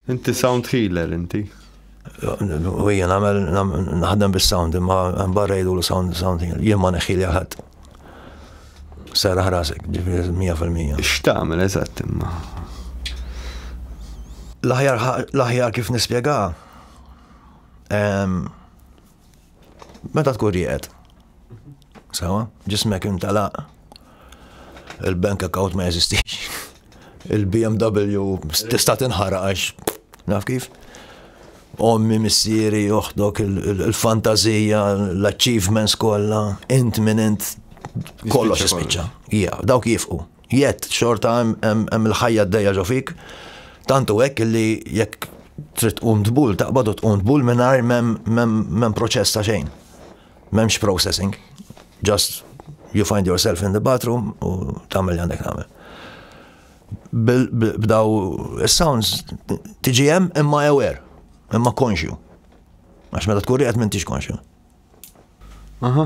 Inti sound healer inti? U jien għamel naħdem bis-sound imma barra jgħidu sound sound healer. Jien ma neħħi li ħadd. Serraħ rasek, ġifieri 100%. X'tagħmel eżatt imma? L-aħjar kif nispjega Meta tkun rieqed, sawa, ġismek intalaq, il-bank account ma jeżistix, il-BMW tista' tinħaraq għax naf kif. Ommi, missieri, uħdok, il-fantazija, l-achievements kollha, int minn int kollox ispiċċa. Ija, dawk jifqu, Yet, xorta hemm il-ħajja d-dejja ġo fik, tantu hekk li jekk trid tqum tbul, taqbad u tqum tbul mingħajr m'hemm proċess ta' xejn. M'hemmx processing. Just you find yourself in the bathroom u tagħmel li għandek tagħmel. B'daw is-sounds tiġi hemm imma aware, imma konxju. Għax meta tkun qed m'intix konxju. Aha.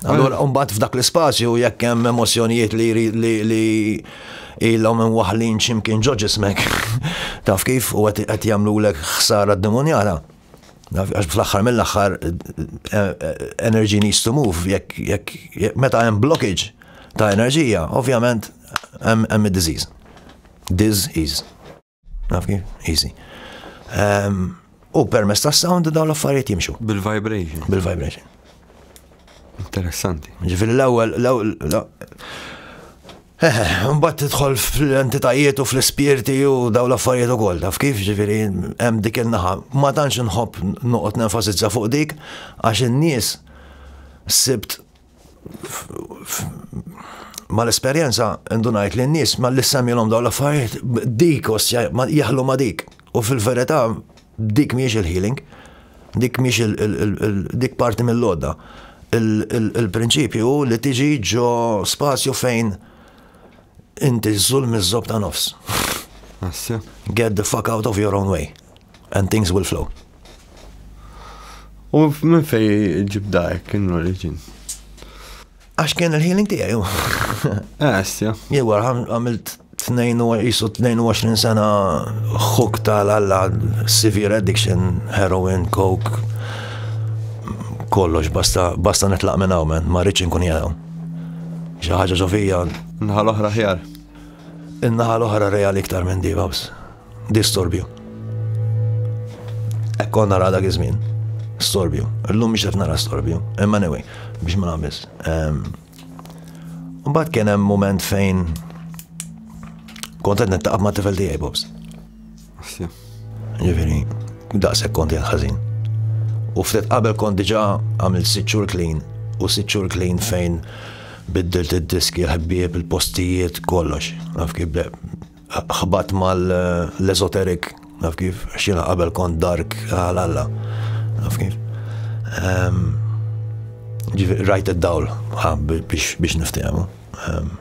Allora, mbagħad f'dak l-ispazju jekk hemm emozjonijiet li li ilhom minn waħlin x'imkien ġo ġismek. Taf kif u qed jagħmlulek ħsara d-demonjala. Għax fl-axħar mill-axħar eh, eh, energy needs to move, jekk meta hemm blockage ta' enerġija, ovvjament hemm id-disease. Disease. Naf kif? Easy. Ehm, u permess ta' sound dawn l-affarijiet jimxu. Bil-vibration. Bil-vibration. Interessanti. Ġifiri l-ewwel, Mbatt tidħol fl-entitajiet u fl-ispirti u daw l-affarijiet u koll, taf kif ġifiri hemm dik il-naħa. Ma tantx nħobb noqgħod nenfasizza fuq dik għax in-nies sibt mal-esperjenza ndunajt li n-nies ma li semilhom dawn l-affarijiet dik osja jaħlu ma dik. U fil-verità dik miex il-healing, dik miex dik parti mill-lodda. Il-prinċipju hu li tiġi ġo spazju fejn inti żul miż-żob ta' nofs. Get the fuck out of your own way. And things will flow. U minn fej ġib dajk in origin? Għax kien il-healing tijaj, ju. Għasja. Ah, Jew għamilt 22 sena xuk tal-alla severe addiction, heroin, coke, kollox, basta, basta netlaq minn hawn, ma rridx inkun jgħu. Xi ħaġa ġofija. Naħa l-oħra ħjar. In-naħa l-oħra reali iktar minn di, babs. Distorbju. Ekkon nara dak iż-żmien. Storbju. Illum biex qed nara storbju. Imma anyway, biex ma nagħmilx. Ehm, mbagħad kien hemm moment fejn kont qed nittaqab ma' tifel tiegħi Bobs. Ġifieri, daqshekk kont jgħid ħażin. U ftit qabel kont diġà għamil sitt xhur clean u sitt xhur clean fejn biddilt id-diski, l-ħbieb, il-postijiet, kollox. Naf kif Ħbatt mal-esoteric, naf kif, xina qabel kont dark, għalalla, naf kif. Ehm, rajt id-dawl, biex niftehmu. Ehm,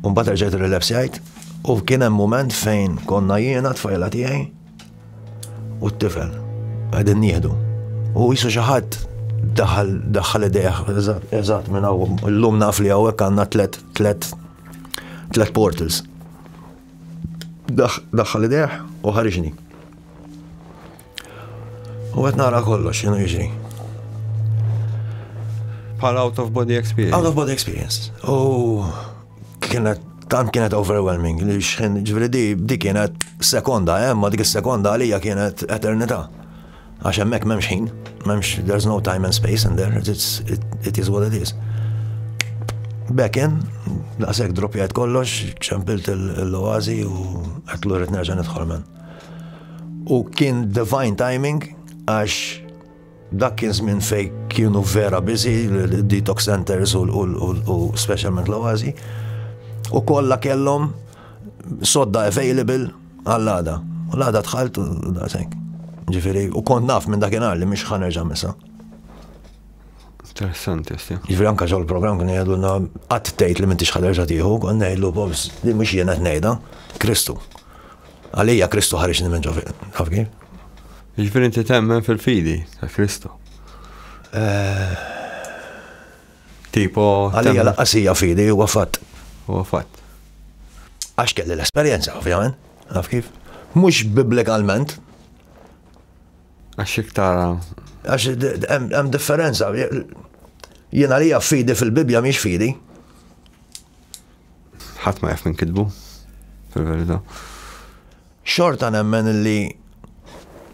un bat rġajt il-relapsjajt, u kien hemm moment fejn konna jiena tfajla tiegħi u t-tifel għedin nieħdu. U jisu xaħat daħal daħal idejħ, eżat minn għaw, l-lum naf li għawek għanna tlet, tlet Tlet portals. Daħħal ideħ u ħariġni. U għet nara kollox, xinu jiġri. Pal out of body experience. Out of body experience. U kienet tant kienet overwhelming li xħin ġveri di, di kienet sekonda, eh, ma dik sekonda għalija kienet eternita. Għax hemmhekk m'hemmx ħin, m'hemmx there's no time and space in there, it's, it, it is what it is. Back in, daqshekk droppjajt kollox, ċempilt l-oazi u qed lura nerġa' nidħol men. U kien divine timing għax dak kien żmien fej kienu vera biżi detox centers u specialment l-oazi u kollha kellhom sodda available Għall-għada. U l-għada tħalt u daqshekk. Ġifieri, u kont naf minn dakinhar li mhix ħanerġa' misa. Interessanti, sti. Ġifri anka ġol program kien jgħidulna qatt tgħid li m'intix ħaderġa tieħu, kon ngħidlu bobs li mhux jiena tnejda, Kristu. Għalija Kristu ħareġ minn ġo taf kif? Ġifri inti temmen fil-fidi ta' Kristu. Eh, Tipo. Għalija lanqas hija fidi, huwa fatt. Huwa fatt. Għax kelli l-esperjenza, ovvjament. Taf kif? Mhux bibblikalment. Għax iktar. Għax hemm differenza. Jien għalija fidi fil-Bibja mhix fidi. Ħadd ma jaf minn kitbu, fil-verità. Xorta nemmen li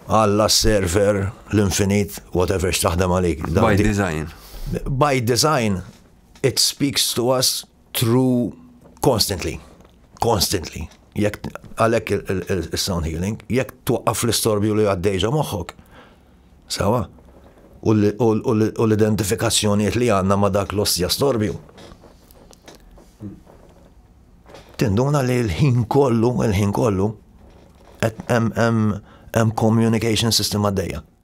Alla s-server, l-infinit, whatever x'taħdem għalik. By design. By design, it speaks to us through constantly. Constantly. Jek għalek il-sound healing, jek twaqqaf l-istorbju li għaddejġa moħħok. Sawa? U l-identifikazzjoniet li għanna ma dak l-ossja storbju. Tinduna li l-ħin kollu, il-ħin kollu, hemm communication system għaddejja.